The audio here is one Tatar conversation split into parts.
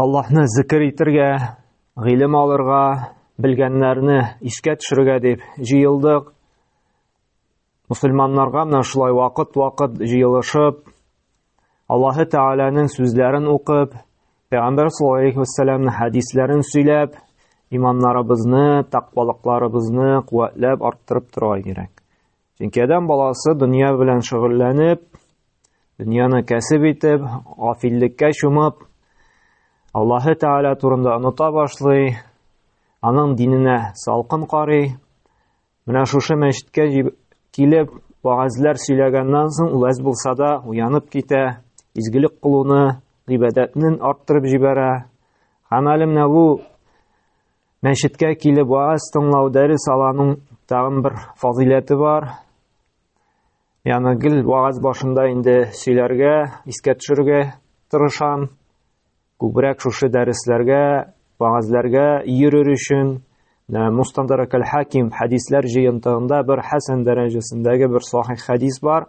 Аллаһны зикер итергә, гыйлем алырга, белгәннәрне искә төшерергә дип җыелдык. Мусульманнарга менә шулай вакыт-вакыт җыелышып, Аллаһы Тәгаләнең сүзләрен укып, Пәйгамбәр саллаллаһу алейхи вәссәламнең хәдисләрен сөйләп, иманнарыбызны, тәкъвалыкларыбызны куәтләп арттырып торырга кирәк. Чөнки адәм баласы дөнья белән шөгыльләнеп, дөньяны кәсеп итеп, гафиллеккә чумып, Аллаһы Тәгалә турында оныта башлый, аның диненә салкын карый. Менә шушы мәчеткә килеп, вагазлар сөйләгәннән соң, вәз булса да уянып китә, изгелек кылуны, гыйбадәтнен арттырып җибәрә. Һәм әле менә бу Мәчеткә килеп вааз тыңлау, дәрес аланың тагын бер фазыйләте бар. Яны гел вааз башында инде сөйләргә, искә төшерергә тырышам. Күбрәк шушы дәресләргә, ваазләргә йөрер өчен э, Мустандарак әл-Хаким хәдисләр җыентыгында бер хәсән дәрәҗәсендәге бер сахих хәдис бар.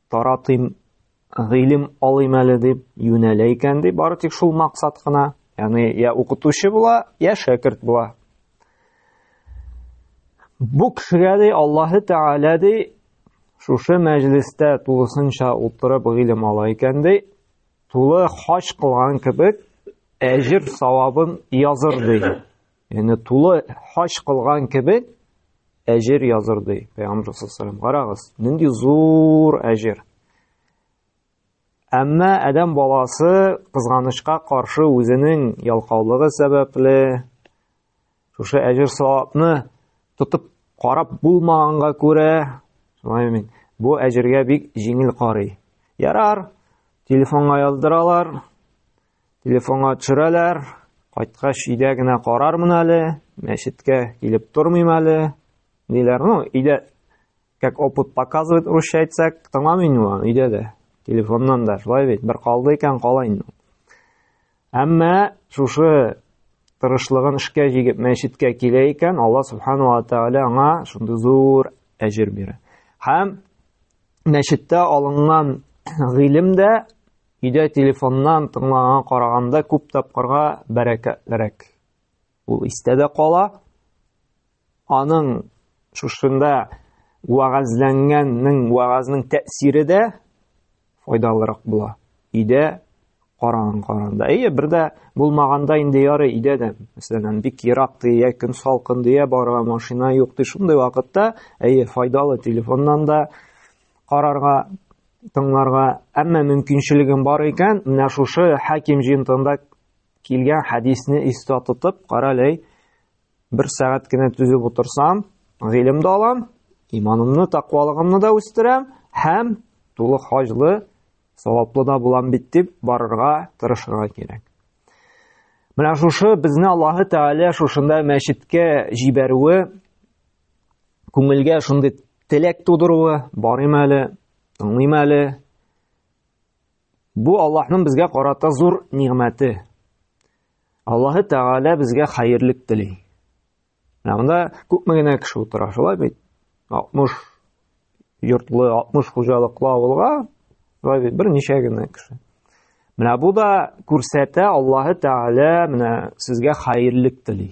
Таратыйм, гыйлем алыйм әле дип юнәлә икән ди, бары тик шул максат кына. Яни я укытучы була, я шәкерт була. Бу кешегә ди Аллаһы Тәгалә ди шушы мәҗлестә тулысынча утырып гыйлем ала икән ди, тулы хаҗ кылган кебек әҗир савабын языр ди. Яни тулы хаҗ кылган кебек әҗер языр ди Пәйгамбер саллаллаху Карагыз, нинди зур әҗер. Әмма адәм баласы кызганычка каршы үзенең ялкаулыгы сәбәпле шушы әҗер савапны тотып карап булмаганга күрә, шулай мин бу әҗергә бик җиңел карый. Ярар, телефонга яздыралар, Телефонга төшерәләр, кайткач өйдә генә карармын әле, мәчеткә килеп тормыйм әле, диләр. Ну, өйдә, как опыт показывает, русча әйтсәк, тыңламый инде аны өйдә дә. Телефоннан да шулай бит, бер калды икән кала инде. Әмма шушы тырышлыгын эшкә җигеп мәчеткә килә икән, Алла субхану ва тааля аңа шундый зур әҗер бирә. Һәм мәчеттә алынган гыйлем дә Өйдә телефоннан тыңлаган караганда күп тапкырга бәрәкәтлерәк. Ул истә дә кала. Аның шушында вәгазьләнгәннең вәгазьнең тәэсире дә файдалырак була. Өйдә караган каранда. Әйе, бер дә булмаганда инде яры өйдә дә, мәсәлән, бик ерак дия, көн салкын дия, бара машина юк ди, шундый вакытта, әйе, файдалы телефоннан да карарга тыңларга, әмма мөмкинчелегем бар икән, менә шушы хаким җинтында килгән хәдисне истә тотып, каралей, бер сәгать кенә түзеп утырсам, гыйлем дә алам, иманымны, тақвалыгымны да үстерәм һәм тулы хаҗлы, саваплы да булам бит дип барырга, тырышырга кирәк. Менә шушы безне Аллаһы Тәгалә шушында мәчеткә җибәрүе күңелгә шундый теләк тудыруы барыйм әле тыңлыйм әле бу аллаһның безгә карата зур нигъмәте аллаһы тәгалә безгә хәерлек тели менә монда күпме генә кеше утыра шулай бит алтмыш йортлы алтмыш хуҗалыклы авылга шулай бит берничә генә кеше менә бу да күрсәтә аллаһы тәгалә менә сезгә хәерлек тели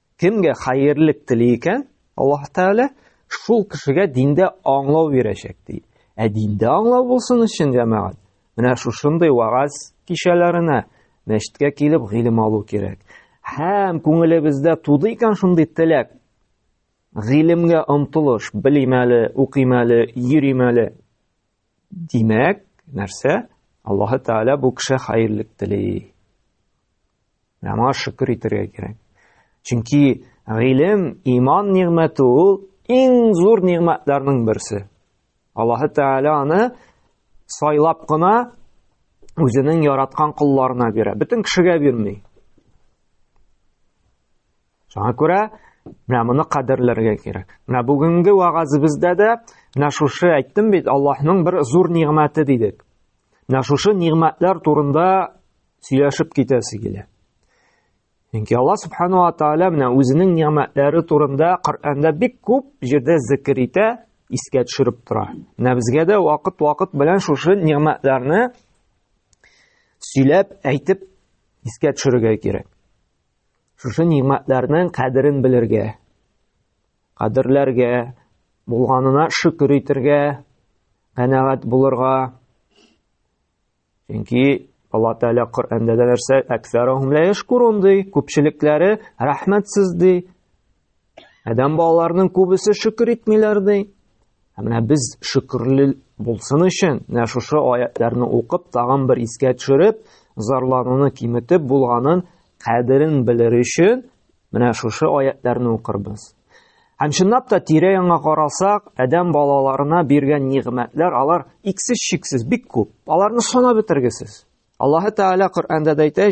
Кемгә хәерлек тели икән, Аллаһ Тәгалә шул кешегә диндә аңлау бирәчәк ди. Ә диндә аңлау булсын өчен, җәмәгать, менә шушындый вагаз кичәләренә мәчеткә килеп гыйлем алу кирәк. Һәм күңелебездә туды икән шундый теләк, гыйлемгә омтылыш, белим әле, укыйм әле, йөрим әле, Димәк, нәрсә? Аллаһы Тәгалә бу кеше хәерлек тели. Менә моңа шөкер итәргә кирәк. Чөнки гыйлем, иман нигъмәте ул иң зур нигъмәтләрнең берсе. Аллаһы Тәгалә аны сайлап кына үзенең яраткан колларына бирә. Бөтен кешегә бирми. Шуңа күрә менә моны кадерләргә кирәк. Менә бүгенге вагазыбызда да менә шушы әйттем бит, Аллаһның бер зур нигъмәте дидек. Менә шушы нигъмәтләр турында сөйләшеп китәсе килә. Чөнки Аллаһ субхану ва тааля менә үзенең нигъмәтләре турында Коръәндә бик күп җирдә зикр итә, искә төшереп тора. Менә безгә дә вакыт-вакыт белән шушы нигъмәтләрне сөйләп, әйтеп искә төшерергә кирәк. Шушы нигъмәтләрнең кадерен белергә, кадерләргә, булганына шөкер итергә, канәгать булырга. Чөнки Алла Тәгалә Коръәндә дә нәрсә, "Әксәрәһум ла яшкурун" ди, күпчелекләре рәхмәтсез ди. Адәм балаларының күбесе шөкер итмиләр ди. Ә менә без шөкерле булсын өчен, менә шушы аятларны укып, тагын бер искә төшереп, зарлануны киметеп булганын кадерен белер өчен, менә шушы аятларны укырбыз. Һәм чынлап та тирә яңа карасак, адәм балаларына биргән нигъмәтләр алар иксез шиксез бик күп. Аларны санап бетергесез. Аллаһы Тәгалә Коръәндә дә әйтә,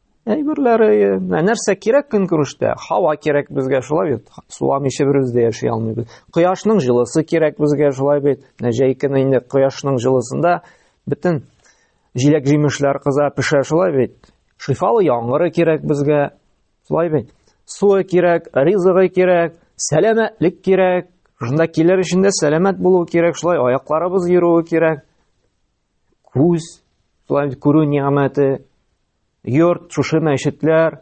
Әйберләре, ә нәрсә кирәк көнкүрештә? Һава кирәк безгә, шулай бит. Суламыйча берүз дә яши алмыйбыз. Кояшның җылысы кирәк безгә, шулай бит. Менә җәй көне инде кояшның җылысында бөтен җиләк-җимешләр кыза, пешә, шулай бит. Шифалы яңгыры кирәк безгә, шулай бит. Суы кирәк, ризыгы кирәк, сәламәтлек кирәк. Шунда килер өчен дә сәламәт булу кирәк, шулай аякларыбыз йөрүе кирәк. Күз, шулай бит күрү нигъмәте, йорт, шушы мәчетләр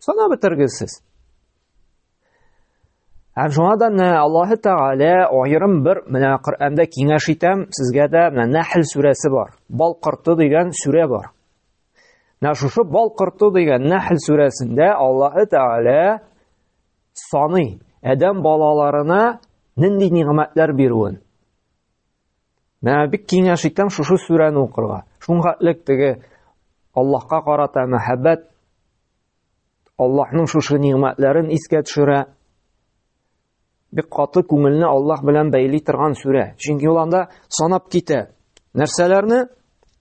санап бетергесез. Һәм шуңа да менә Аллаһы Тәгалә аерым бер менә Коръәндә киңәш итәм, сезгә дә менә Нәхл сүрәсе бар. Бал корты дигән сүрә бар. Менә шушы бал корты дигән Нәхл сүрәсендә Аллаһы Тәгалә саны Адәм балаларына нинди нигъмәтләр бирүен. Менә бик киңәш итәм шушы сүрәне укырга. Шуңгатлек теге Аллаһка карата мәхәббәт Аллаһның шушы нигъмәтләрен искә төшерә. Бик каты күңелне Аллаһ белән бәйли торган сүрә. Чөнки ул анда санап китә. Нәрсәләрне?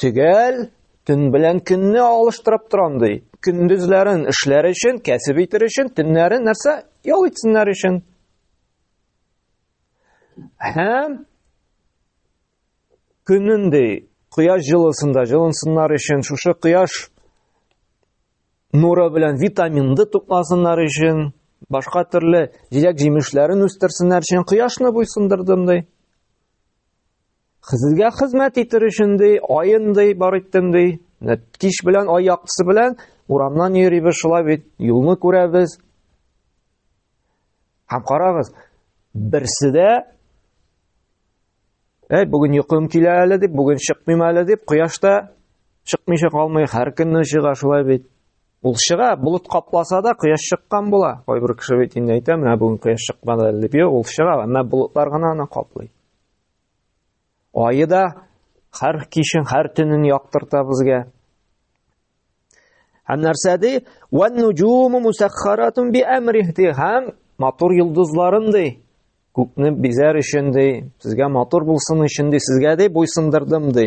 Төгәл төн белән көнне алыштырып торам ди. Көндезләрен эшләр өчен, кәсеп итер өчен, төннәрен нәрсә? Ял итсеннәр өчен. Һәм көнен ди, кояш җылысында җылынсыннар өчен, шушы кояш нуры белән витаминды тупласыннар өчен, башка төрле җиләк-җимешләрен үстерсеннәр өчен кояшны буйсындырдым ди. Хезергә хезмәт итер өчен ди, аен ди, бар иттем ди. Кич белән ай яктысы белән урамнан йөрибез шулай бит, юлны күрәбез. Һәм карагыз, берсе дә Әй, бүген йокым килә әле дип, бүген чыкмыйм әле дип, кояшта чыкмыйча калмый, һәр көнне чыга шулай бит. Ул чыга, болыт капласа да кояш чыккан була. Кайбер кеше бит инде әйтә, менә бүген кояш чыкмады әле дип, ул чыга, әмма болытлар гына аны каплый. Айы да һәр кичен, һәр төнен яктырта безгә. Һәм нәрсә ди? Ван нуҗуму мусаххаратун би амрихти һәм матур йолдызларын ди. Күкне бизәр өчен ди, сезгә матур булсын өчен ди, сезгә ди буйсындырдым ди.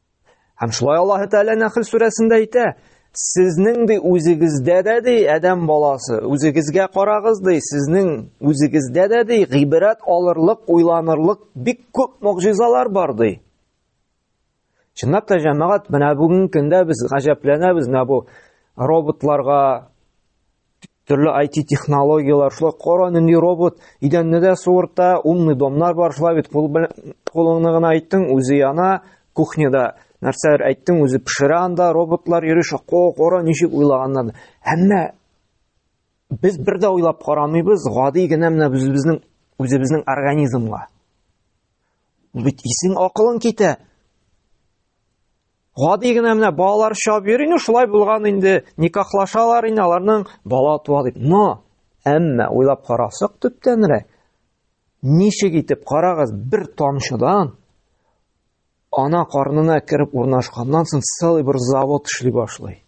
Һәм шулай Аллаһ Тәгалә Нәхл сүрәсендә әйтә, сезнең ди үзегездә дә ди адәм баласы, үзегезгә карагыз ди, сезнең үзегездә дә ди гыйбрәт алырлык, уйланырлык бик күп мөгъҗизалар бар ди. Чынлап та җәмәгать, менә бүгенге көндә без гаҗәпләнәбез менә бу роботларга, Төрле IT-технологияләр, шулай кара нинди робот, идәнне дә суырта, умный домнар бар, шулай бит кул белән кулыңны гына әйттең, үзе яна, кухняда нәрсәләр әйттең, үзе пешерә анда, роботлар йөри, шако, кара ничек уйлаганнар. Әмма без бер дә уйлап карамыйбыз, гади генә менә безнең үзебезнең организмга. Бит исең акылың китә. гади генә менә балалар чабып йөри инде шулай булган инде никахлашалар инде аларның бала туа дип но әмма уйлап карасак төптәнрәк ничек итеп карагыз бер тамчыдан ана карнына кереп урнашканнан соң целый бер завод эшли башлый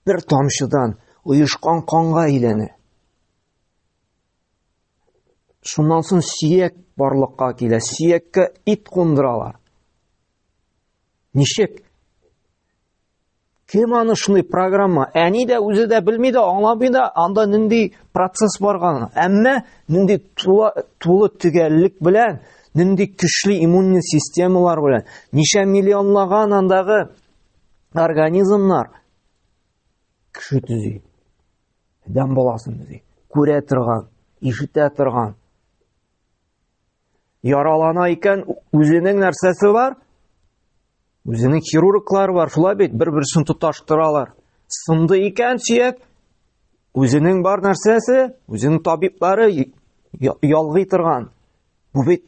бер тамчыдан оешкан канга әйләнә Шуннан соң сөяк барлыкка килә. Сөяккә ит кундыралар. Ничек? Кем аны шундый программа? Әни дә үзе дә белми дә, аңламый да, анда нинди процесс барган. Әмма нинди тулы, тулы төгәллек белән, нинди көчле иммунный системалар белән, ничә миллионлаган андагы организмнар кеше төзи. Адәм баласын үзе күрә торган, ишетә торган. Яралана икән, үзенең нәрсәсе бар? Үзенең хирурглары бар, шулай бит, бер-берсен тоташтыралар. Сынды икән сөяк, үзенең бар нәрсәсе, үзенең табиблары ялгый торган. Бу бит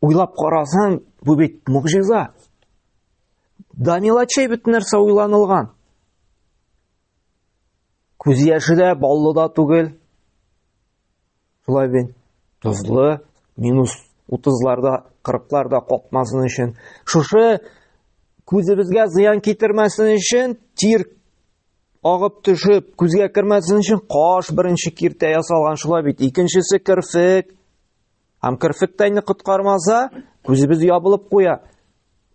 уйлап карасаң, бу бит мугҗиза. Данилачей бит нәрсә уйланылган. Күз яше дә, баллы да түгел. Шулай бит. Тозлы, минус 30-ларда, 40-ларда капмасын өчен. Шушы күзебезгә зыян китермәсен өчен тир агып төшеп, күзгә кермәсен өчен каш беренче киртә ясалган шулай бит. Икенчесе керфек. Һәм керфек тәйне коткармаса, күзебез ябылып куя.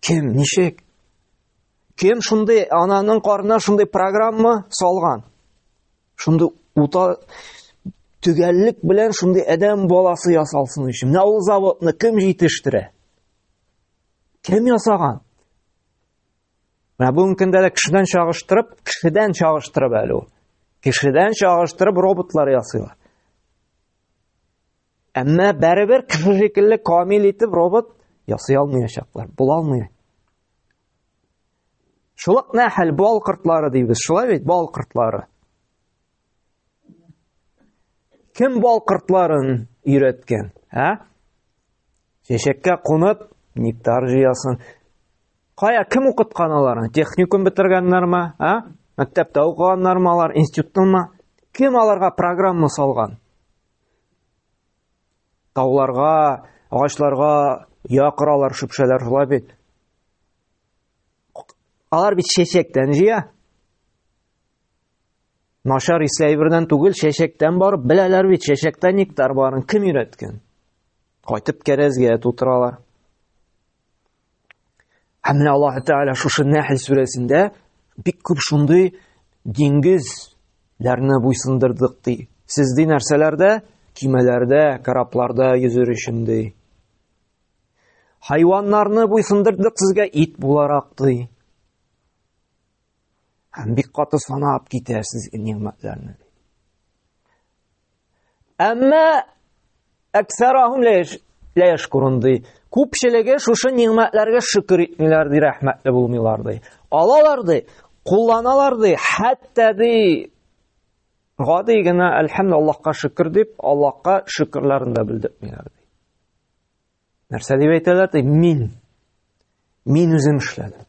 Кем, ничек? Кем шундый ананың карнына шундый программа салган? Шундый ута төгәллек белән шундый адәм баласы ясалсын өчен. Менә ул заводны кем җитештерә? Кем ясаган? Менә бүгенге көндә дә кешедән чагыштырып, кешедән чагыштырып әле ул. Кешедән чагыштырып роботлар ясыйлар. Әмма бәребер кеше шикелле камил итеп робот ясый алмаячаклар, була алмый. Шулык нәхәл бал кортлары дибез. Шулай бит бал кортлары. Кем бал кортларын өйрәткән? Ә? Чәчәккә кунып, нектар җыясын. Кая кем укыткан аларны? Техникум бетергәннәрме? Ә? Мәктәптә укыганнармы алар, институттымы? Кем аларга программа салган? Тауларга, агачларга якыралар шөпшәләр шулай бит. Алар бит чәчәктән җыя. Нашар исләй бердән түгел, чәчәктән барып беләләр бит, чәчәктә нектар барын кем өйрәткән? Кайтып кәрәзгә тутыралар. Һәм менә Аллаһ Тәгалә шушы Нәхл сүрәсендә бик күп шундый диңгезләрне буйсындырдык ди. Сез ди нәрсәләрдә? Кимәләрдә, корабларда йөзер өчен ди. Хайваннарны буйсындырдык сезгә ит буларак ди. Һәм бик каты санап китәсез нигъмәтләрне. Әмма әксәрәһүм лә яшкурун ди. Күпчелеге шушы нигъмәтләргә шөкер итмиләр ди, рәхмәтле булмыйлар ди. Алалар ди, кулланалар ди, хәтта ди гади генә әлхәмдү Аллаһка шөкер дип, Аллаһка шөкерләрен дә белдермиләр ди. Нәрсә дип әйтәләр? Ди, мин. Мин үзем эшләдем.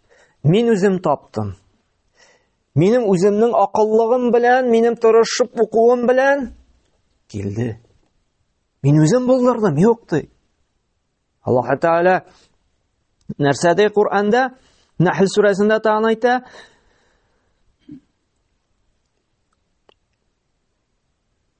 Мин үзем таптым. Минем үземнең акыллыгым белән, минем тырышып укуым белән килде. Мин үзем булдырдым, юк ди. Аллаһ Тәгалә нәрсә ди Коранда? Нәхл сүрәсендә тагын әйтә,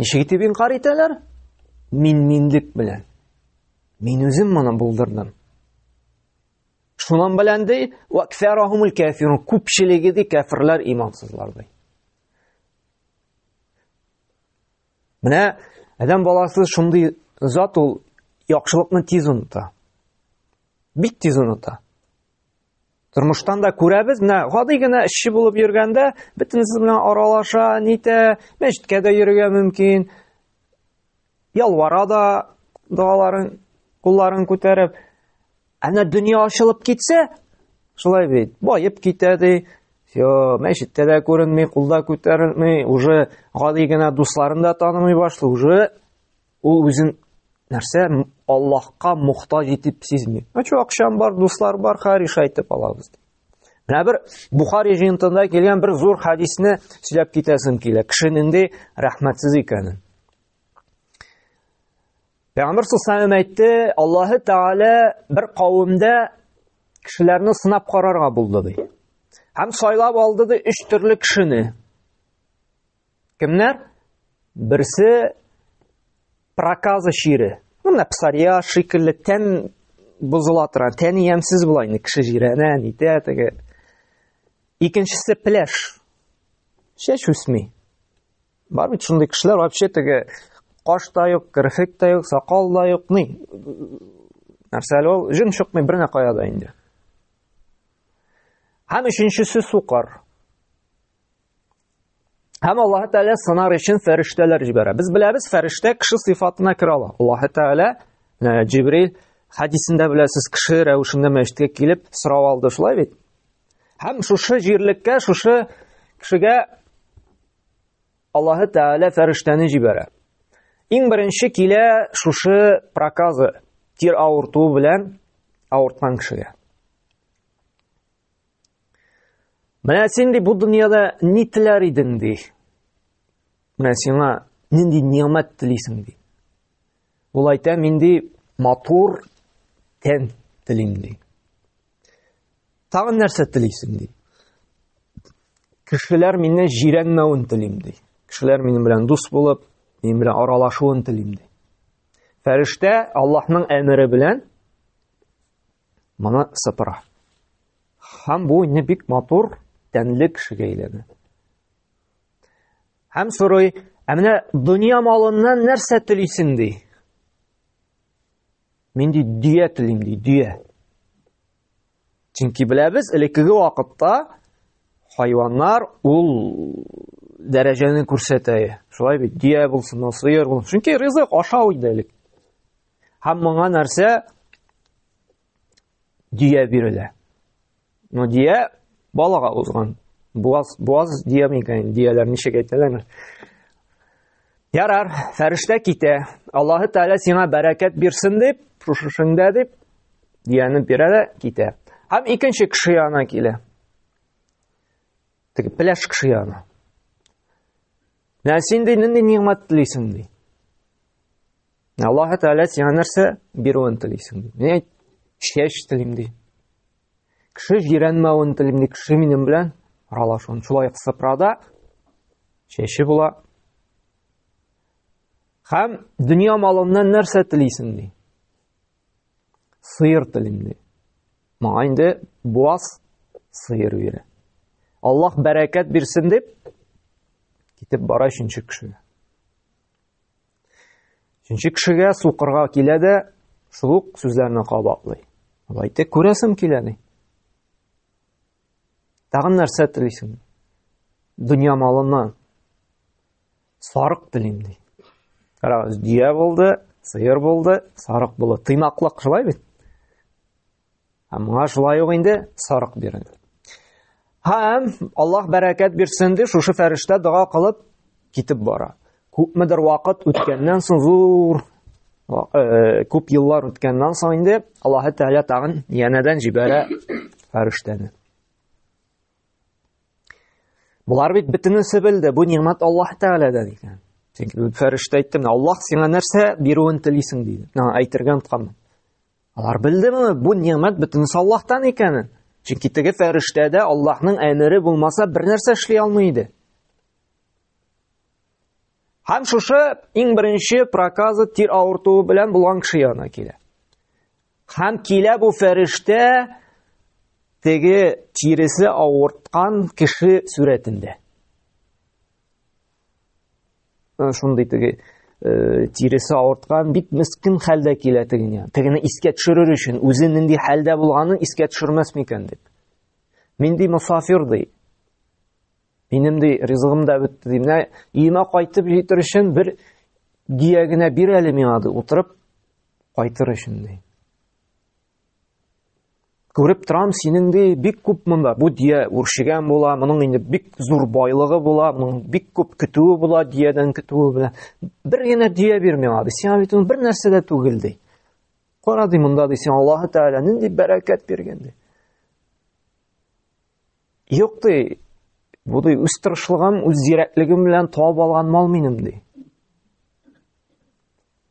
Ничек итеп инкар итәләр? Мин-минлек белән. Мин үзем моны булдырдым. Шунан белән ди, вакфарахумул кафирун, күпчелеге ди кафирлар имансызлар ди. Менә адам баласы шундый зат ул яхшылыкны тиз оныта. Бик тиз оныта. Тормыштан да күрәбез, менә гади генә эшче булып йөргәндә, бөтенесе белән аралаша, нитә, мәчеткә дә йөрергә мөмкин. Ялвара да догаларын, кулларын күтәреп. Әнә дөнья ачылып китсә, шулай бит, баеп китә ди. Йо, мәчеттә дә күренми, кулда күтәрелми, уже гади генә дусларын да танымый башлый, уже Ул үзен нәрсә Аллаһка мохтаҗ итеп сизми. Ачу акчам бар, дуслар бар, хәри шайтып алабыз. Менә бер Бухари җыентында килгән бер зур хадисне сөйләп китәсем килә. Кеше нинди рәхмәтсез икәнен. Пәйгамбер сусаем әйтте, Аллаһы Тәгалә бер кавымда кешеләрне сынап карарга булды ди. Һәм сайлап алды ди өч төрле кешене. Кемнәр? Берсе проказа чире. Менә псария шикелле тән бозыла тора, тән ямсез була инде кеше җирәнә, нитә теге. Икенчесе пляж. Чәч үсми. Бар бит шундый кешеләр вообще теге каш та юк, керфек та юк, сакал да юк, ни. Нәрсә әле ул? Җен чыкмый бернә кая да инде. Һәм өченчесе сукар. Һәм Аллаһ Тәгалә сынар өчен фәрештәләр җибәрә. Без беләбез, фәрештә кеше сыйфатына керә ала. Аллаһ Тәгалә э, Җибрил хәдисендә беләсез, кеше рәвешендә мәчеткә килеп сорау алды, шулай бит? Һәм шушы җирлеккә, шушы кешегә Аллаһ Тәгалә фәрештәне җибәрә. Иң беренче килә шушы проказы, тир авыртуы белән авырткан кешегә. Менә син ди бу дөньяда ни теләр идең ди. Менә сиңа нинди нигъмәт телисең ди. Ул әйтә, мин ди матур тән телим ди. Тагын нәрсә телисең ди. Кешеләр мине җирәнмәвен телим ди. Кешеләр минем белән дус булып, минем белән аралашуын телим ди. Фәрештә Аллаһның әмере белән Моны сыпыра. Һәм бу инде бик матур, тәнле кешегә әйләнә. Һәм сорый, ә менә дөнья малыннан нәрсә телисең ди? Мин ди дөя телим ди, дөя. Чөнки беләбез, элеккеге вакытта хайваннар ул дәрәҗәне күрсәтә. Шулай бит, дөя булсын, сыер булсын. Чөнки ризык ашау иде элек. Һәм моңа нәрсә? Дия бирелә. Но дия балага узган. Буаз, буаз дия микән? Дияләр ничек әйтәләр? Ярар, фәрештә китә. Аллаһы Тәгалә сиңа бәрәкәт бирсен дип, шушышыңда дип, дияне бирә дә китә. Һәм икенче кеше янына килә. Теге пляж кеше янына. Нәсин ди, нинди нигъмәт телисең ди. Аллаһ Тәгалә сиңа нәрсә бирүен телисең? Мин чәч телим ди. Кеше җирәнмәвен телим ди, кеше минем белән аралашуын. Шулай сыпрада чәче була. Һәм дөнья малыннан нәрсә телисең ди? Сыер телим ди. Моңа инде буаз сыер бирә. Аллаһ бәрәкәт бирсен дип китеп бара өченче кешегә. Өченче кешегә сукырга килә дә, шул ук сүзләрне кабатлый. Ул әйтте, күрәсем килә ди. Тагын нәрсә телисең? Дөнья малыннан сарык телим ди. Карагыз, дөя булды, сыер булды, сарык булды. Тыйнаклык шулай бит. Ә моңа шулай ук инде сарык бирен. Һәм Аллаһ бәрәкәт бирсен дип шушы фәрештә дога кылып китеп бара. Күпмедер вакыт үткәннән соң зур э, э, күп еллар үткәннән соң инде Аллаһ Тәгалә тагын янәдән җибәрә фәрештәне. Булар бит битенесе белде, бу нигъмәт Аллаһ Тәгаләдән икән. Чөнки бу фәрештә әйтте, менә Аллаһ сиңа нәрсә бирүен телисең диде. Менә әйтергә онтканмын. Алар белдеме бу нигъмәт бөтенесе Аллаһтан икәнен? Чөнки теге фәрештә дә Аллаһның әмере булмаса бернәрсә эшли алмый иде. Һәм шушы иң беренче проказы тир авыртуы белән булган кеше янына килә. Һәм килә бу фәрештә теге тиресе авырткан кеше сурәтендә. Э, шундый теге э, тиресе авырткан бик мескен хәлдә килә тегене тегене искә төшерер өчен үзе нинди хәлдә булганын искә төшермәс микән дип мин ди мосафир ди минем ди ризыгым да бетте ди менә өемә кайтып җитер өчен бер гия генә бир әле миңа ди утырып кайтыр өчен ди Күреп торам, синең ди бик күп монда. Бу дия үршегән була, моның инде бик зур байлыгы була, моның бик күп көтүе була, диядән көтүе белән. Бер генә дия бир миңа, ди. Сиңа бит бер нәрсә дә түгел, ди. Кара ди монда, ди, сиңа Аллаһы Тәгалә нинди бәрәкәт биргән, ди. Юк, ди, бу ди, үз тырышлыгым, үз зирәклегем белән табып алган мал минем, ди.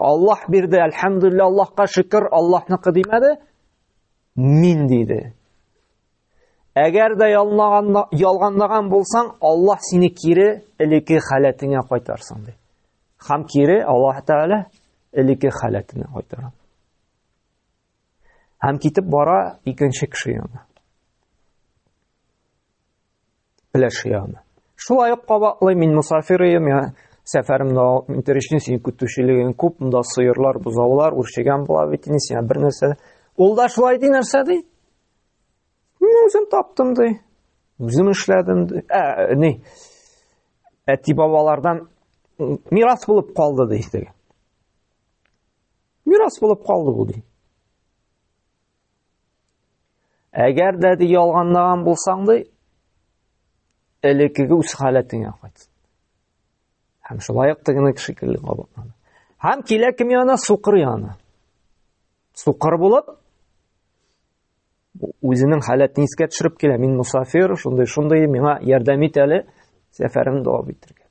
Аллаһ бирде, әлхәмдулилла, Аллаһка шөкер, Аллаһныкы димәде. Мин диде. Әгәр дә ялганлаган булсаң, Аллаһ сине кире элеке халәтеңә кайтарсын ди. Хам кире Аллаһ Тәгалә элеке халәтенә кайтара. Хам китеп бара икенче кеше янына. Пеләш ягына. Шулай ук кабатлый, мин мусафир идем, я сәфәрем дәвам итәр өчен синең көтүчелегең күп, монда сыерлар, бозаулар үрчегән була бит инде, сиңа бер нәрсә. Ул да шулай ди, нәрсә ди? Мин үзем таптым ди. Үзем эшләдем ди. Ә, ни? Әти бабалардан мирас булып калды ди. Мирас булып калды бу ди. Әгәр дә ди ялганлаган булсаң ди, элеккеге үз халәтеңә кайт. Һәм шулай ук тегене шикелле кабатлана. Һәм килә кем янына? Сукыр янына. Сукыр булып үзенең халәтен искә төшереп килә. Мин мусафир, шундый, шундый, миңа ярдәм ит әле, сәфәрен дәвам итәргә.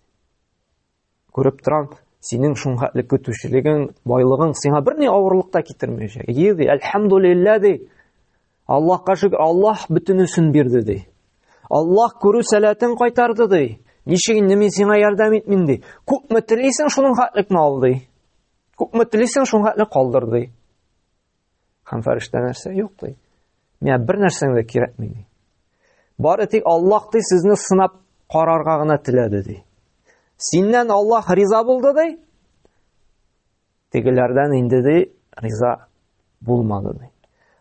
Күреп торам, синең шуңхәтле көтүчелегең, байлыгың сиңа бер ни авырлык та китермәячәк. Ие ди, әлхәмдулиллә ди. Аллаһка шөкер, Аллаһ бөтенесен бирде ди. Аллаһ күрү сәләтен кайтарды ди. Ничек инде мин сиңа ярдәм итмим ди. Күпме телисең шуның хәтлек мал ди. Күпме телисең шуның хәтлек калдыр ди. Һәм фәрештә нәрсә? Юк ди. Миңа бер нәрсәң дә кирәкми ди. Бары тик Аллаһ ди сезне сынап карарга гына теләде ди. Синнән Аллаһ риза булды ди. Тегеләрдән инде ди риза булмады ди.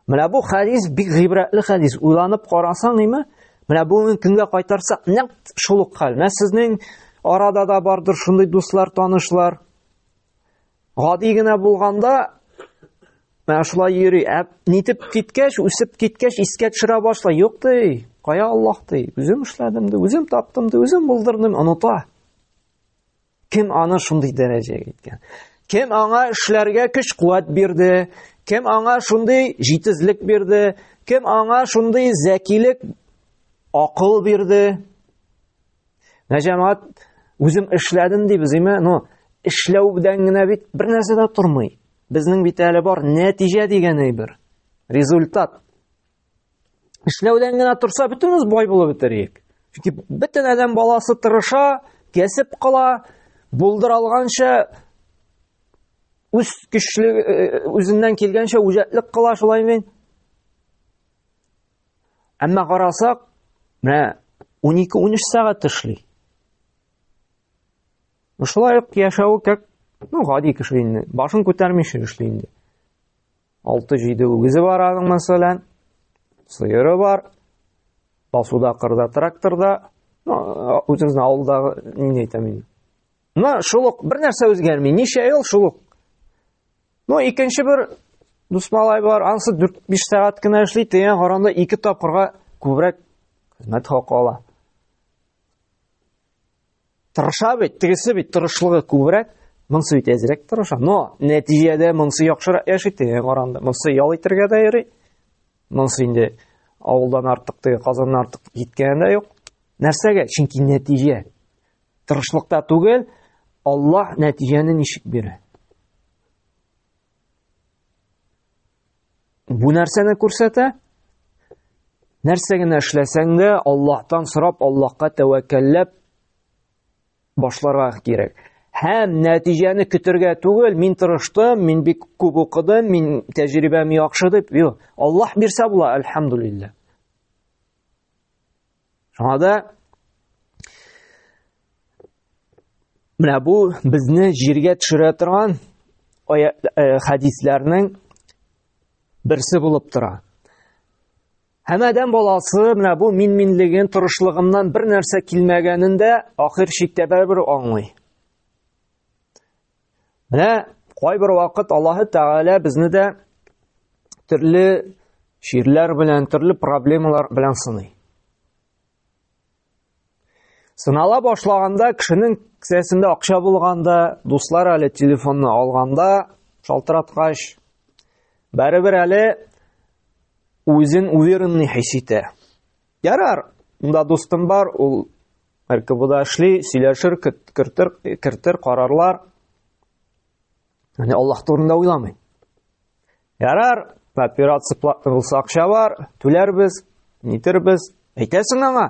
Менә бу хадис бик гыйбрәтле хадис. Уйланып карасаң, ниме? Менә бүгенге көнгә кайтарсак, нәкъ шул ук хәл. Менә сезнең арада да бардыр шундый дуслар, танышлар. Гади генә булганда менә шулай йөри. Ә нитеп киткәч, үсеп киткәч, искә төшерә башлый. Юк ди, кая Аллаһ ди, үзем эшләдем ди, үзем таптым ди, үзем булдырдым, оныта. Кем аны шундый дәрәҗәгә киткән? Кем аңа эшләргә көч-куәт бирде? Кем аңа шундый җитезлек бирде? Кем аңа шундый зәкилек, акыл бирде? Менә җәмәгать үзем эшләдем дибез, име? Ну, эшләү белән генә бит бер нәрсә дә тормый. Безнең бит әле бар нәтиҗә дигән әйбер. Результат. Эшләүдән генә торса, бөтенебез бай булып бетерик. Чөнки бөтен адәм баласы тырыша, кәсеп кыла, булдыр алганча үз көчле э, э, үзеннән килгәнчә үҗәтлек кыла шулай мин. Әмма карасак, менә 12-13 сәгать эшли. Шулай ук яшәве как ну, гади кеше инде. Башын күтәрмичә эшли инде. 6-7 үгезе бар аның мәсәлән. Сыеры бар. Басуда кырда тракторда. Ну, үзебезнең авылдагы ни әйтәм инде. Мына шул ук бер нәрсә үзгәрми. Ничә ел шул ук Ну, икенче бер дусмалай бар, анысы 4-5 сәгать кенә эшли, тегенә каранда ике тапкырга күбрәк хезмәт хакы ала. Тырыша бит, тегесе бит тырышлыгы күбрәк, монысы бит әзрәк тырыша. Но нәтиҗәдә монысы яхшырак яши, тегенә каранда. Монысы ял итәргә дә йөри. Монысы инде авылдан артык, теге Казаннан артык киткәне дә юк. Нәрсәгә? Чөнки нәтиҗә. Тырышлыкта түгел, Аллаһ нәтиҗәне ничек бирә? Бу нәрсәне күрсәтә? Нәрсә генә эшләсәң дә, Аллаһтан сорап, Аллаһка тәвәккәлләп башларга кирәк. Һәм нәтиҗәне көтергә түгел, мин тырыштым, мин бик күп укыдым, мин тәҗрибәм яхшы дип, юк. Аллаһ бирсә була, альхамдулиллах. Шуңа да менә бу безне җиргә төшерә торган э, хәдисләрнең берсе булып тора. Һәм адәм баласы менә бу мин-минлеген, торышлыгыннан бер нәрсә килмәгәнен дә ахир чиктә бәрбер аңлый. Менә кайбер вакыт Аллаһы Тәгалә безне дә төрле чирләр белән, төрле проблемалар белән сыный. Сынала башлаганда кешенең кесәсендә акча булганда, дуслар әле телефонны алганда, шалтыраткач, бәребер әле үзен уверенный хис итә. Ярар, монда дустым бар, ул РКБда эшли, сөйләшер, кертер, кертер карарлар. Яни Аллаһ турында уйламый. Ярар, операция платный булса акча бар, түләрбез, нитербез. Әйтәсең аңа,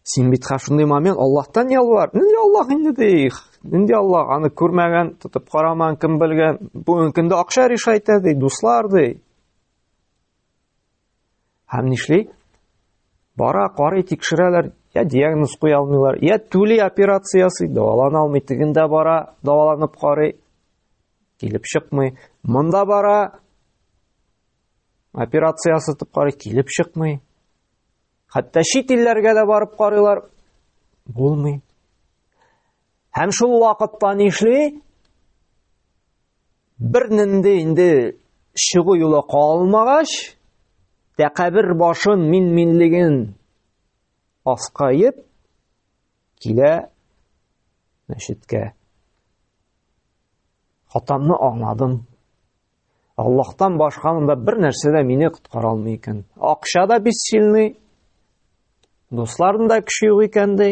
син бит шундый момент Аллаһтан ялвар. Нинди Аллаһ инде ди. Нинди Аллаһ аны күрмәгән, тотып караман кем белгән. Бүгенкендә акча решайтә ди, дуслар ди. Һәм нишли? Бара, карый, тикшерәләр, я диагноз куя алмыйлар, я түли операциясы, дәвалана алмый, тегендә бара, дәваланып карый, килеп чыкмый. Монда бара, операция ясатып карый, килеп чыкмый. Хәтта чит илләргә дә барып карыйлар, булмый. Һәм шул вакытта нишли? Бер нинди инде чыгу юлы калмагач, тәкәбер башын мин-минлеген аскаеп килә мәчеткә. Хатамны аңладым. Аллаһтан башка монда бер нәрсә дә мине коткара алмый икән. Акча да бисчилный, дусларым да көче юк икән ди.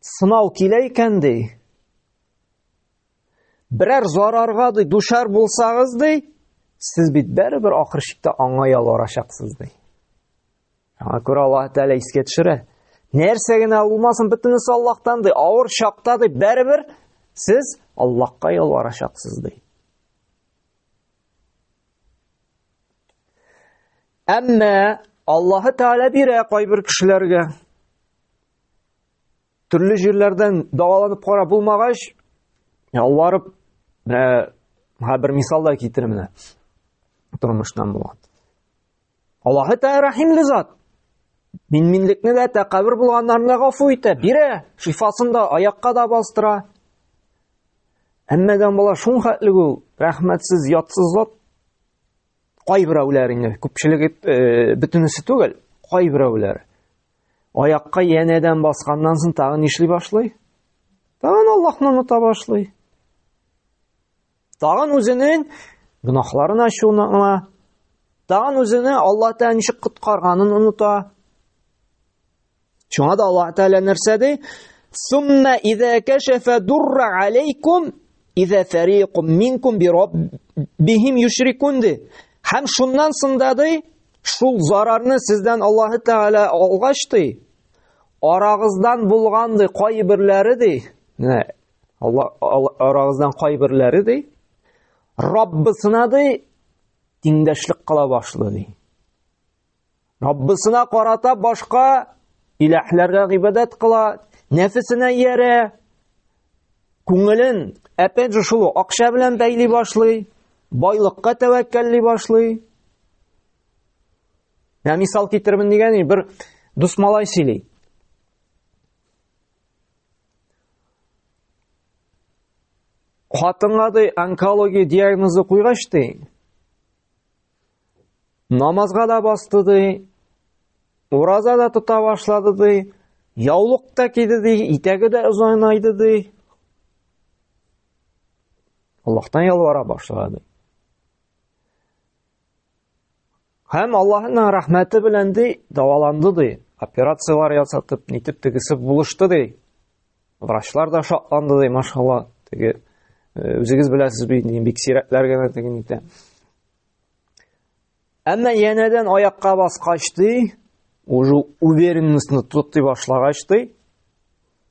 сынау килә икән ди, берәр зарарга ди душар булсагыз ди, сез бит бәрібір ақыр шикте аңа ялварачаксыз ди. Аңа күрә Алла Тәгалә искә төшерә. Нәрсә генә булмасын, бөтенесе Аллаһтан ди, авыр чакта ди, бәрібір сез Аллаһка ялварачаксыз ди. Әмма Аллаһы Тәгалә бирә кайбер кешеләргә Төрле җирләрдән дәваланып карап булмагач, ялварып, менә һәр бер мисалда китерәм менә. Тормыштан булган. Аллаһы Тәгалә рәхимле зат. Мин минлекне дә тәкәббер булганнарны гафу итә, бирә, шифасын да аякка да бастыра. Әмма дә бала шул хәтле ул рәхмәтсез, ятсыз зат. Кайберәүләр инде, күпчелеге э, бөтенесе түгел, кайберәүләр. Аякка янәдән басканнан соң тагын нишли башлый? Тагын Аллаһны оныта башлый. Тагын үзенең гөнаһларын ачуны аңа, тагын үзене Аллаһ Тәгалә ничек коткарганын оныта. Шуңа да Аллаһ Тәгалә нәрсә ди? Сумма иза кашафа дурра алейкум иза фарикум минкум би раббихим юшрикун ди. Һәм шуннан сында ди, Шул зарарны сездән Аллаһы Тәгалә алгач ди, арагыздан булган ди кайберләре ди. Менә Алла арагыздан кайберләре ди. Раббысына ди тиңдәшлек кыла башлый ди. Раббысына карата башка иләһләргә гыйбадәт кыла, нәфесенә иярә, Күңелен опять же шул акча белән бәйли башлый, байлыкка тәвәккәлли башлый. Менә мисал китермен дигән бер дус малай сөйли. Хатынга ди онкология диагнозы куйгач ди, Намазга да басты ди, ураза да тота башлады ди, яулык та киде ди, итәге дә озайнайды ди. Аллаһтан ялвара башлады. Һәм Аллаһның рәхмәте белән ди, дәваланды ди, операцияләр ясатып, нитеп тегесе булышты ди. Врачлар да шатланды ди, машалла, теге Э, үзегез беләсез бит бик сирәкләр генә теге нитә Әмма янәдән аякка баскач ди, уже уверенностьны тотый башлагач ди,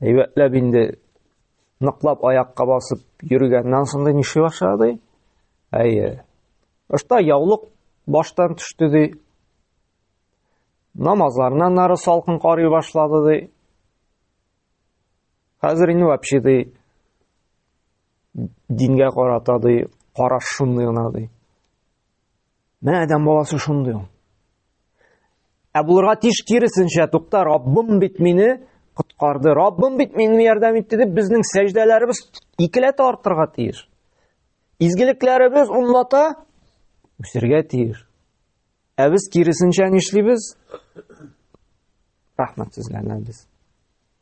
әйбәтләп инде ныклап аякка басып йөргәннән соң ди нишли башлады? Әйе. Башта яулык баштан төште ди. Намазларыннан нары салкын карый башлады ди. Хәзер инде вообще ди дингә карата ди караш шундый гына ди менә адәм баласы шундый ул ә булырга тиеш киресенчә тукта раббым бит мине коткарды раббым бит мине ярдәм итте дип безнең сәҗдәләребез икеләтә артырга тиеш изгелекләребез унлата үсергә тиеш ә без киресенчә нишлибез рәхмәтсезләнәбез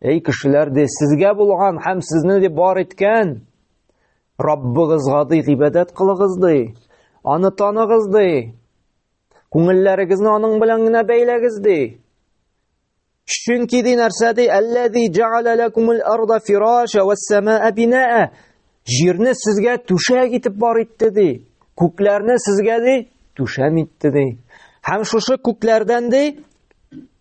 Эй кешеләр ди, сезгә булган һәм сезне ди бар иткән Раббыгызга ди гыйбадәт кылыгыз ди. Аны таныгыз ди. Күңелләрегезне аның белән генә бәйләгез ди. Чөнки ди нәрсә ди, әлләзи җаала лакумул арда фираша вас самаа бинаа. Җирне сезгә түшәк итеп бар итте ди. Күкләрне сезгә ди түшәм итте ди. Һәм шушы күкләрдән ди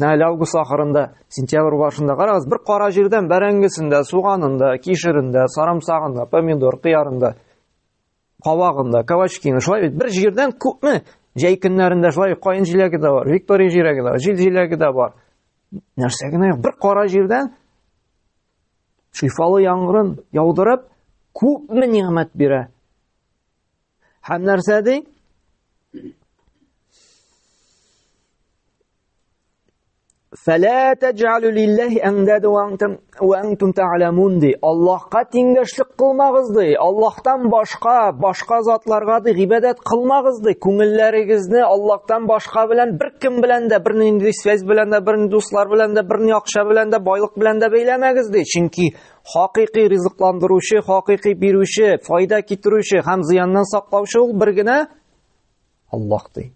Менә әле август ахырында, сентябрь башында карагыз, бер кара җирдән бәрәңгесендә, суганында, кишерендә, сарымсагында, помидор, кыярында, кавагында, кавачкины, шулай бит бер җирдән күпме җәй көннәрендә шулай каен җиләге дә бар, виктория җиләге дә бар, җил җиләге дә бар. Нәрсә генә бер кара җирдән шифалы яңгырын яудырып, күпме нигъмәт бирә. Һәм нәрсә ди? Фәлә тәҗәлү лилләһи әндәдә ва антум ва антум тәгъламун ди. Аллаһка тиңдәшлек кылмагыз ди. Аллаһтан башка, башка затларга ди гыйбадәт кылмагыз ди. Күңелләрегезне Аллаһтан башка белән бер кем белән дә, бер нинди связь белән дә, бер дуслар белән дә, бер акча белән дә, байлык белән дә бәйләмәгез ди. Чөнки Хакыйкый ризыкландыручы, хакыйкый бирүче, файда китерүче һәм зыяннан саклаучы ул бер генә Аллаһ ди.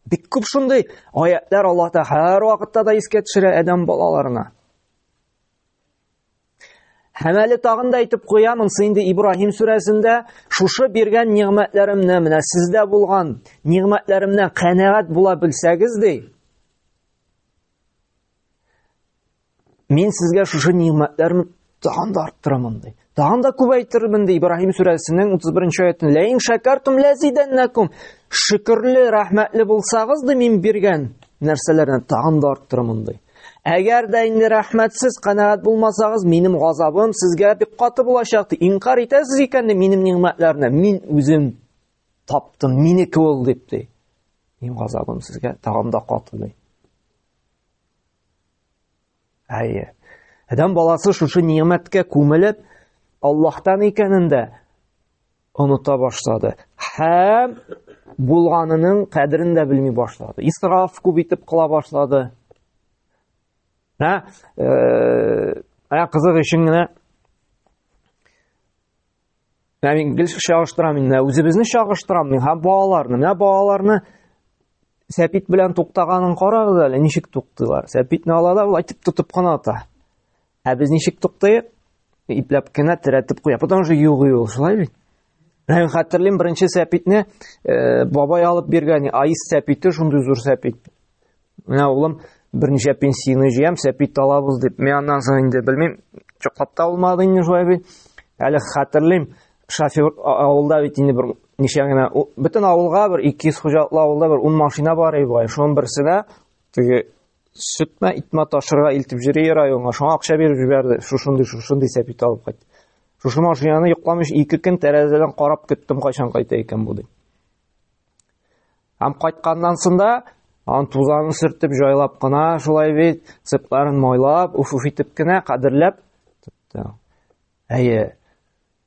Бик күп шундый аятлар Аллаһ та һәр вакытта да искә төшерә адәм балаларына. Һәм әле тагын да әйтеп куям, инде инде Ибраһим сүрәсендә шушы биргән нигъмәтләремне, менә сездә булган нигъмәтләремнән канәгать була белсәгез ди. Мин сезгә шушы нигъмәтләрне тагын да арттырамын ди. Тагын да күбәйтермен ди Ибраһим сүрәсенең 31-нче аятында. Ләин шакартум лазиданнакум. Шөкерле, рәхмәтле булсагыз ди мин биргән нәрсәләрне тагын да арттырамын ди. Әгәр дә инде рәхмәтсез канәгать булмасагыз, минем газабым сезгә бик каты булачак ди. Инкар итәсез икән ди минем нигъмәтләрне. Мин үзем таптым, минеке ул дип ди. Мин газабым сезгә тагын да катылый. Әйе. Адам баласы шушы ниәмәткә күмелеп, Аллаһтан икәнен дә оныта башлады. Һәм булганының кадерен дә белми башлады. Исраф күп итеп кыла башлады. Ә, ә кызык өчен генә Менә мин гел чагыштырам инде, үзебезне чагыштырам мин һәм балаларны. Менә балаларны сәпит белән туктаганын карагыз әле, ничек туктыйлар. Сәпитне ала да улайтып тотып кына ата. Ә без ничек туктыйк? Ипләп кенә терәтеп куя. Потом же югый ул, шулай бит. Мен хәтерлим беренче сәпитне э, бабай алып биргән, айс сәпите, шундый зур сәпит. Менә улым берничә пенсияне җыям, сәпи талабыз дип. Мин аннан соң инде белмим, чоклап та алмады инде шулай бит. Әле хәтерлим, шофер авылда бит инде бер ничә генә бөтен авылга бер 200 хуҗалыклы авылда бер 10 машина бар иде бай. Шуның берсенә теге сөтмә итмә ташырга илтеп йөри районга. Шуңа акча биреп җибәрде. Шушындый, шушындый сәпит алып кайт. Шушы машинаны йокламыш ике көн тәрәзәдән карап көттем, кайчан кайта икән бу дип. Һәм кайтканнан сында ан тузанын сөртеп җайлап кына шулай бит сыпларын майлап уфуф итеп кенә кадерләп тотты әйе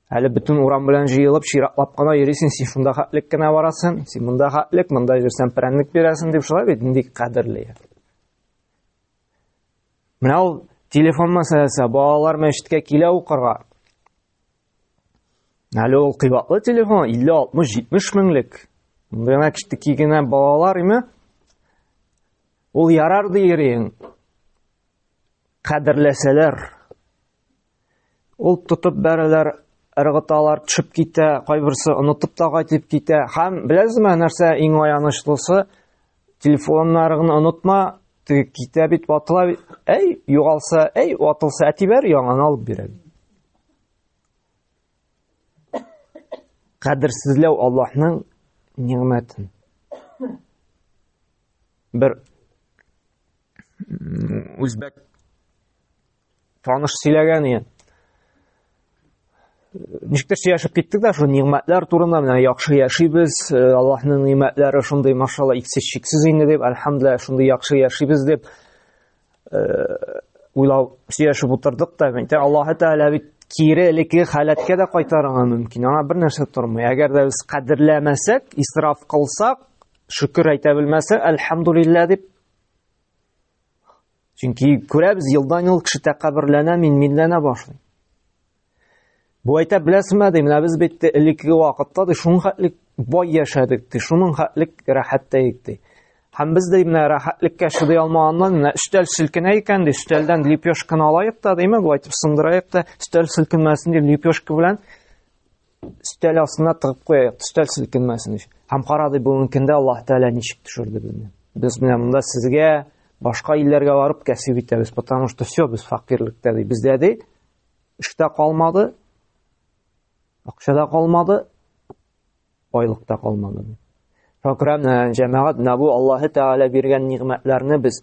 әле бөтен урам белән җыелып чиратлап кына йөрисең син шунда хәтлек кенә барасың син монда хәтлек монда йөрсәң прәннек бирәсең дип шулай бит нинди кадерле менә ул телефон мәсьәләсе балалар мәчеткә килә укырга Әле ул кыйбатлы телефон, 50-60-70 меңлек. Гына киштеки генә балалар име? Ул ярар диерин. Кадерләсәләр. Ул тотып бәрәләр, ыргыталар, төшеп китә, кайберсе онытып та кайтып китә. Һәм беләсезме нәрсә иң аянычлысы? Телефоннарыгны онытма, теге китә бит ватыла бит. Әй, югалса, әй, ватылса, әтибәр яңаны алып бирәм. Кадерсезләү Аллаһның нигъмәтен. Бер үзбәк Таныш сөйләгән иде. Ничектер сөйләшеп киттек дә шул нигъмәтләр турында, менә яхшы яшибез, э, Аллаһның нигъмәтләре шундый, машалла, иксез чиксез инде дип, альхамдулилла, шундый яхшы яшибез дип э, уйлау сөйләшеп утырдык та, әйтә Аллаһы Тәгалә бит кире элекке халәткә дә кайтарырга мөмкин. Аңа бер нәрсә тормый. Әгәр дә без кадерләмәсәк, исраф кылсак, шөкер әйтә белмәсәк, альхамдулилла дип Чөнки күрәбез, елдан-ел кеше тәкәбберләнә, мин минләнә башлый. Бу әйтә беләсезме, ди, менә без бит элекке вакытта ди шуның хәтлек бай яшәдек, ди, шуның хәтлек рәхәттә итте. Һәм без дә менә рәхәтлеккә чыдый алмаганнан, менә өстәл селкенә икән, ди, өстәлдән лепешканы алайык та, димме, бу әйтеп сындырайык та, өстәл селкенмәсен дип лепешка белән өстәл астына тыгып куяйык өстәл селкенмәсен өчен һәм карады бүгенге көндә аллаһ тәгалә ничек төшерде безне без менә монда сезгә башка илләргә барып кәсеп итәбез потому что все без факирлектә ди бездә ди эштә калмады акчада калмады байлыкта калмады шөкрәм җәмәгать менә бу аллаһы тәгалә биргән нигъмәтләрне без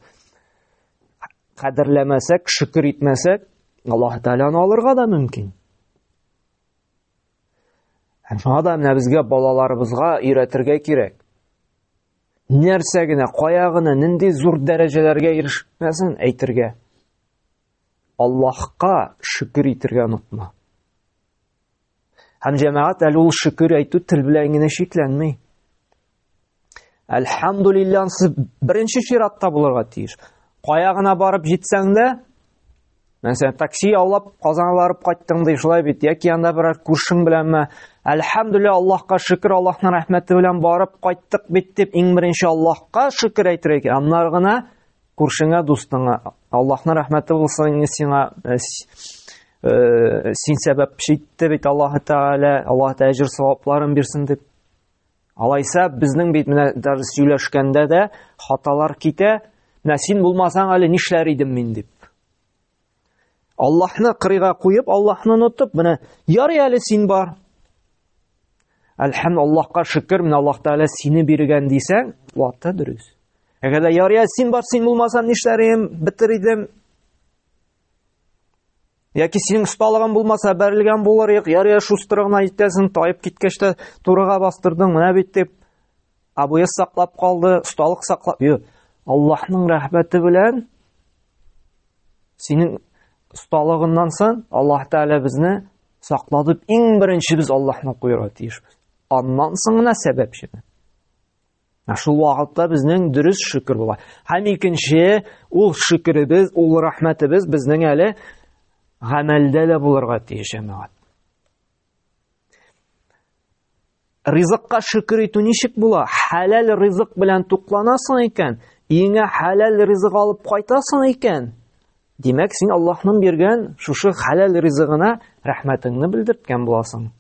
кадерләмәсәк шөкер итмәсәк аллаһы тәгаләне алырга да мөмкин Һәм шуңа да менә безгә балаларыбызга өйрәтергә кирәк. Нәрсә генә, кая гына, нинди зур дәрәҗәләргә ирешмәсен әйтергә. Аллаһка шөкер итергә онытма. Һәм җәмәгать әле ул шөкер әйтү тел белән генә чикләнми. Әлхәмдулиллан сез беренче чиратта булырга тиеш. Кая гына барып җитсәң дә, мәсәлән, такси аулап Казанга барып кайттың ди, шулай бит, яки анда берәр күршең беләнме? Әлхәмдулилла, Аллаһка шөкер, Аллаһның рәхмәте белән барып кайттык бит дип, иң беренче Аллаһка шөкер әйтергә кирәк. Аннары гына күршеңә, дустыңа, Аллаһның рәхмәте булсын сиңа, э, э, син сәбәпче итте бит Аллаһы Тәгалә, Аллаһ Тәгалә әҗр-савапларын бирсен дип. Алайса, безнең бит менә дәрес сөйләшкәндә дә хаталар китә. Менә син булмасаң әле нишләр идем мин дип. Аллаһны кырыйга куеп, Аллаһны онытып, менә ярый әле син бар. Әлхәм Аллаһка шөкер, менә Аллаһ Тәгалә сине биргән дисәң, ватта дөрес. Әгәр дә ярый әле син бар, син булмасаң нишләр идем, битер идем. Яки синең осталыгың булмаса, бәрелгән булыр ек, ярыя шустрыгына итәсең, таеп киткәч тә турыга бастырдың, менә бит дип. Абуя саклап калды, осталык саклап. Йо, Аллаһның рәхмәте белән синең осталыгыннан сон Аллаһ Тәгалә безне саклады. Иң беренче без Аллаһның куйырга тиешбез. Аннан соң гына сәбәпчене. Ә шул вакытта безнең дөрес шөкер була. Һәм икенче, ул шөкеребез, ул рәхмәтебез безнең әле гамәлдә дә булырга тиеш, әмәгать. Ризыкка шөкер итү ничек була? Хәләл ризык белән тукланасың икән, иңә хәләл ризык алып кайтасың икән, димәк, син Аллаһның биргән шушы хәләл ризыгына рәхмәтеңне белдерткән буласың.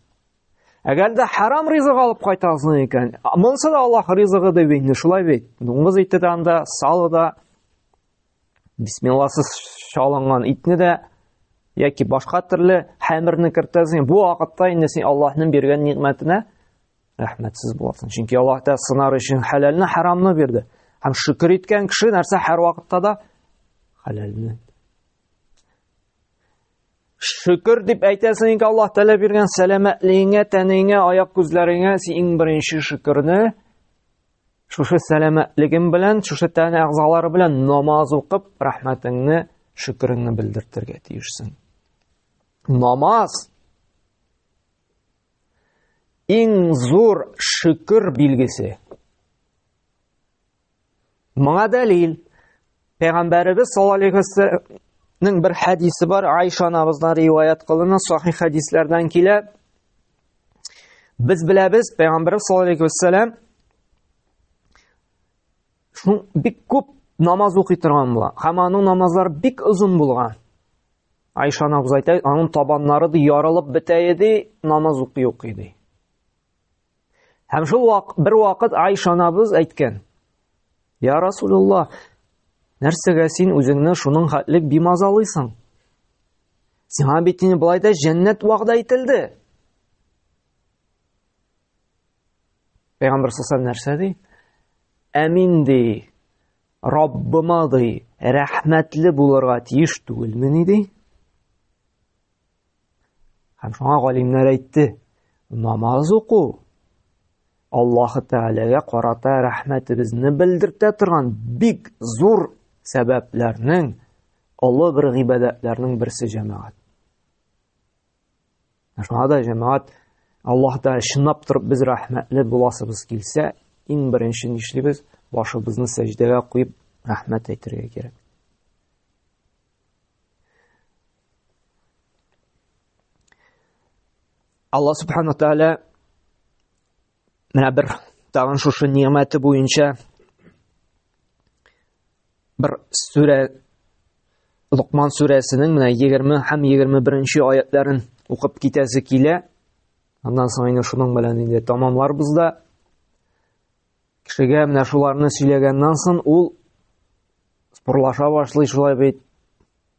Әгәр дә харам ризык алып кайтасың икән, монсы да Аллаһ ризыгы дип инде шулай бит. Дуңгыз ите дә анда, салы да, бисмилласыз шалынган итне дә яки башка төрле хәмерне кертәсең. Бу вакытта инде син Аллаһның биргән ниғмәтенә рәхмәтсез буласың. Чөнки Аллаһ та сынар өчен хәләлне, харамны бирде. Һәм шөкер иткән кеше нәрсә һәр вакытта да хәләлне Шөкер дип әйтәсең инде Аллаһ Тәгалә биргән сәламәтлегеңә, тәнеңә, аяк күзләреңә син иң беренче шөкерне шушы сәламәтлегем белән, шушы тән әгъзалары белән намаз укып, рәхмәтеңне, шөкереңне белдертергә тиешсең. Намаз иң зур шөкер билгесе. Моңа дәлил Пәйгамбәребез саллаллаһу алейхи вәсәлләмнең бер хәдисе бар, Айша анабыздан риваят кылына, сахих хәдисләрдән килә. Без беләбез, Пәйгамбәребез саллаллаһу алейхи вәсәлләм шул бик күп намаз укый торган була. Һәм аның намазлары бик озын булган. Айша анабыз әйтә, аның табаннары да ярылып бетә иде, намаз укый укый ди. Һәм шул вак, бер вакыт Айша анабыз әйткән. Я Расулулла, нәрсәгә син үзеңне шуның хәтле бимазалыйсың? Сиңа бит инде болай да җәннәт вәгъдә ителде. Пәйгамбер саллаллаху нәрсә ди? Әмин ди. Раббыма ди, рәхмәтле булырга тиеш түгелмени ди? Һәм шуңа галимнәр әйтте, намаз уку Аллаһ Тәгаләгә карата рәхмәтебезне белдертә торган бик зур сәбәпләрнең, олы бер гыйбадәтләрнең берсе җәмәгать. Шуңа да җәмәгать Аллаһта чынлап торып без рәхмәтле буласыбыз килсә, иң беренче нишлибез? Башыбызны сәҗдәгә куеп рәхмәт әйтергә кирәк. Алла субхана тәгалә менә бер тагын шушы ниәмәте буенча бер сүрә Лукман сүрәсенең менә 20 һәм 21-нче аятларын укып китәсе килә. Аннан соң инде шуның белән инде тамамларбыз да. Кешегә менә шуларны сөйләгәннән соң ул спорлаша башлый шулай бит.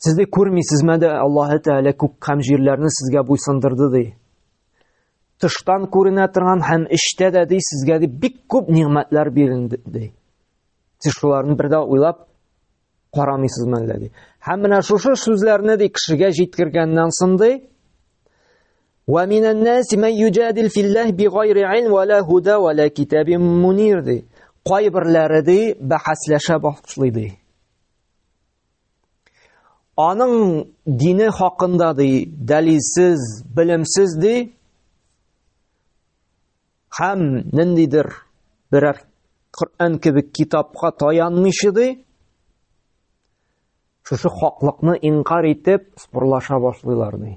Сез дә күрмисезме дә Аллаһы Тәгалә күк һәм җирләрне сезгә буйсындырды ди. Тыштан күренә торган һәм эчтә дә ди сезгә ди бик күп нигъмәтләр бирелде ди. Сез шуларны бер дә уйлап карамыйсызмы әллә ди. Һәм менә шушы сүзләрне ди кешегә җиткергәннән соң ди Ва минән наси ман юҗадил филлаһ бигайри илм ва ла худа ва ла китабин мунир ди. Кайберләре ди бәхәсләшә башлый ди. Аның дине хакында ди, дәлилсез, белемсез ди. Хәм ниндидер берәр Коръән кебек китапка таянмыйча ди. Шушы хаклыкны инкар итеп, спорлаша башлыйлар ди.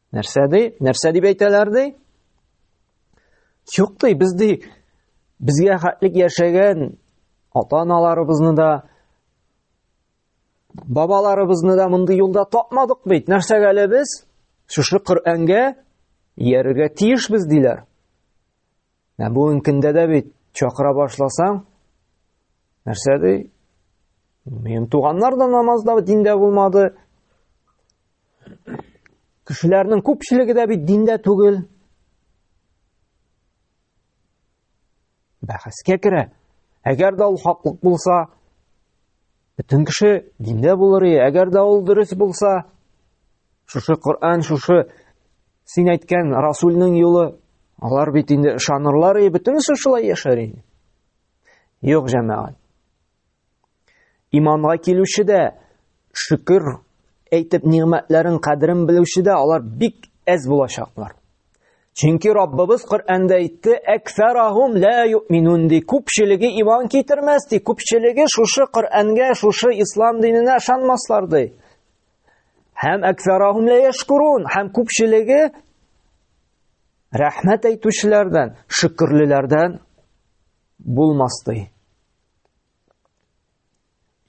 Нәрсә ди? Нәрсә дип әйтәләр ди? Юк ди, без ди безгә хәтлек яшәгән ата-аналарыбызны да бабаларыбызны да мондый юлда тапмадык бит. Нәрсәгә әле без шушы Коръәнгә иярергә тиешбез диләр. Ә бүгенге көндә дә бит чакыра башласаң, нәрсә ди? Минем туганнар да намазда, диндә булмады. Кешеләрнең күпчелеге дә бит диндә түгел. Бәхәскә керә. Әгәр дә ул хаклык булса, Бөтен кеше диндә булыр, әгәр дә ул дөрес булса, шушы Коръән, шушы син әйткән Расулның юлы, алар бит инде ышанырлар, и бөтенесе шулай яшәр инде. Юк, җәмәгать. Иманга килүче дә шөкер әйтеп нигъмәтләрен кадерен белүче дә алар бик әз булачаклар. Чөнки Раббыбыз Коръәндә әйтте, "Әксарахум ла юминун" ди, күпчелеге иман китермәс ди, күпчелеге шушы Коръәнгә, шушы ислам диненә ышанмаслар ди. Һәм әксарахум ла яшкурун, һәм күпчелеге рәхмәт әйтүчеләрдән, шөкерлеләрдән булмас ди.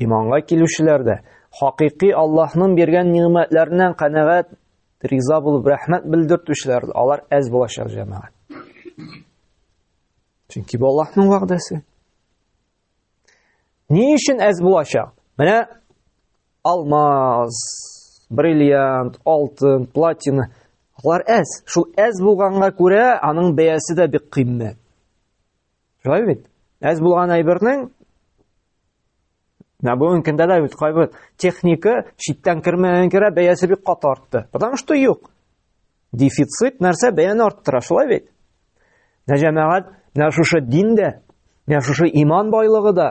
Иманга килүчеләр дә хакыйкый Аллаһның биргән нигъмәтләреннән канәгать, риза булып рәхмәт белдертүчеләр, алар әз булачак җәмәгать. Чөнки бу Аллаһның вәгъдәсе. Ни өчен әз булачак? Менә алмаз, бриллиант, алтын, платина. Алар әз. Шул әз булганга күрә аның бәясе дә бик кыйммәт. Шулай бит? Әз булган әйбернең Менә бүгенге көндә дә бит кайбер техника читтән кермәгән кирә бәясе бик каты артты. Потому что юк. Дефицит нәрсә бәяне арттыра, шулай бит. Менә җәмәгать, менә шушы дин дә, менә шушы иман байлыгы да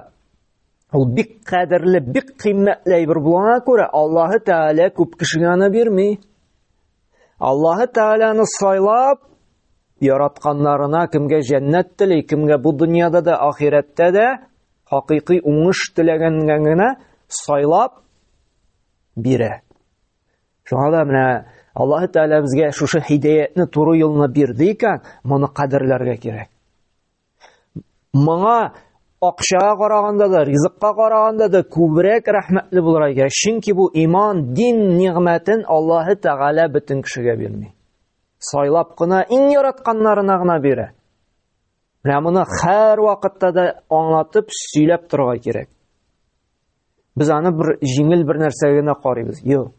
ул бик кадерле, бик кыйммәтле әйбер булгана күрә, Аллаһы Тәгалә күп кешегә аны бирми. Аллаһы Тәгаләне сайлап яратканнарына кемгә җәннәт тели, кемгә бу дөньяда да, ахирәттә дә хакыйкый уңыш теләгәнгә генә сайлап бирә. Шуңа да менә Аллаһ Тәгалә безгә шушы хидәятне туры юлны бирде икән, моны кадерләргә кирәк. Моңа акчага караганда да, ризыкка караганда да күбрәк рәхмәтле булырга кирәк. Чөнки бу иман, дин нигъмәтен Аллаһ Тәгалә бөтен кешегә бирми. Сайлап кына иң яратканнарына гына бирә. Менә моны һәр вакытта да аңлатып, сөйләп торырга кирәк. Без аны бер җиңел бер нәрсә генә карыйбыз. Юк.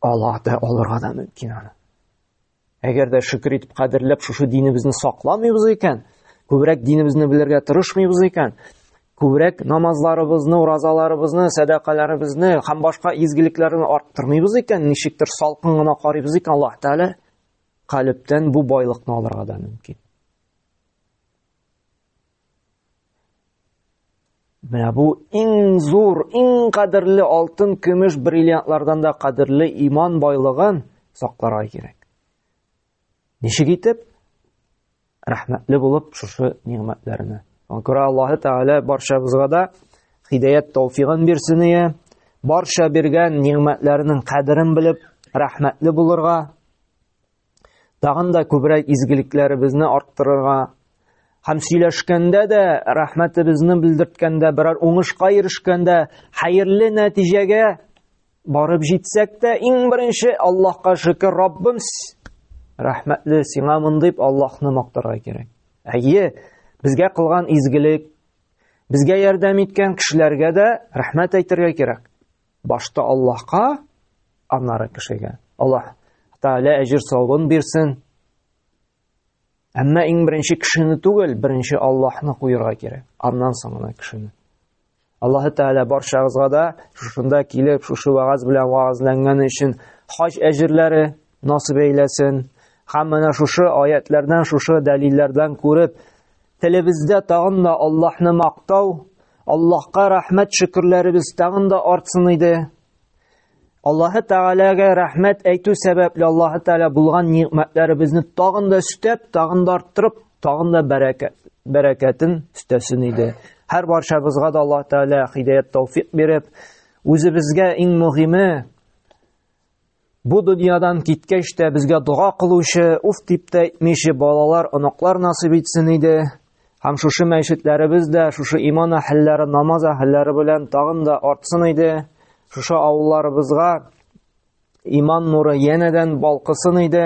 Аллаһ да алырга да мөмкин аны. Әгәр дә шөкер итеп кадерләп шушы динебезне сакламыйбыз икән, күбрәк динебезне белергә тырышмыйбыз икән, күбрәк намазларыбызны, уразаларыбызны, сәдакаларыбызны һәм башка изгелекләрне арттырмыйбыз икән, ничектер салкын гына карыйбыз икән Аллаһ Тәгалә, калептән бу байлыкны алырга да мөмкин. Менә бу иң зур, иң кадерле алтын, көмеш, бриллиантлардан да кадерле иман байлыгын сакларга кирәк. Ничек итеп? рәхмәтле булып шушы нигъмәтләренә. Күрә Аллаһы Тәгалә барчабызга да хидәят тауфигын бирсен ие, барча биргән нигъмәтләренең кадерен белеп, рәхмәтле булырга, тагын да күбрәк изгелекләребезне арттырырга, һәм сөйләшкәндә дә рәхмәтебезне белдерткәндә берәр уңышка ирешкәндә хәерле нәтиҗәгә Барып җитсәк тә, иң беренче Аллаһка шөкер, Раббым, рәхмәтле сиңа мондыйп Аллаһны мактарга кирәк. Әйе, безгә кылган изгелек, безгә ярдәм иткән кешеләргә дә рәхмәт әйтергә кирәк. Башта Аллаһка, аннары кешегә. Аллаһ Тәгалә әҗир савабын бирсен. Әмма иң беренче кешене түгел, беренче Аллаһны куярга кирәк. Аннан соң гына кешене. Аллаһы Тәгалә барчагызга да шушында килеп, шушы вагаз белән вагазланганы өчен хаҗ әҗерләре насып әйләсен. Һәм менә шушы аятлардан, шушы дәлилләрдән күреп, телебездә тагын да Аллаһны мактау, Аллаһка рәхмәт шөкерләребез тагын да артсын иде. Аллаһы Тәгаләгә рәхмәт әйтү сәбәпле Аллаһы Тәгалә булган ниғмәтләребезне тагын да өстәп, тагын да арттырып, тагын да бәрәкәт, бәрәкәтен өстәсен иде. Һәр баршабызга да Аллаһ Тәгалә хидәят тауфик биреп, үзебезгә иң мөһиме Бу дөньядан киткәч тә безгә дога кылучы, уф дип тә әйтмиче балалар, оныклар насыйп итсен иде. Һәм шушы мәчетләребез дә шушы иман әһелләре, намаз әһелләре белән тагын да артсын иде. Шушы авылларыбызга иман нуры янәдән балкысын иде.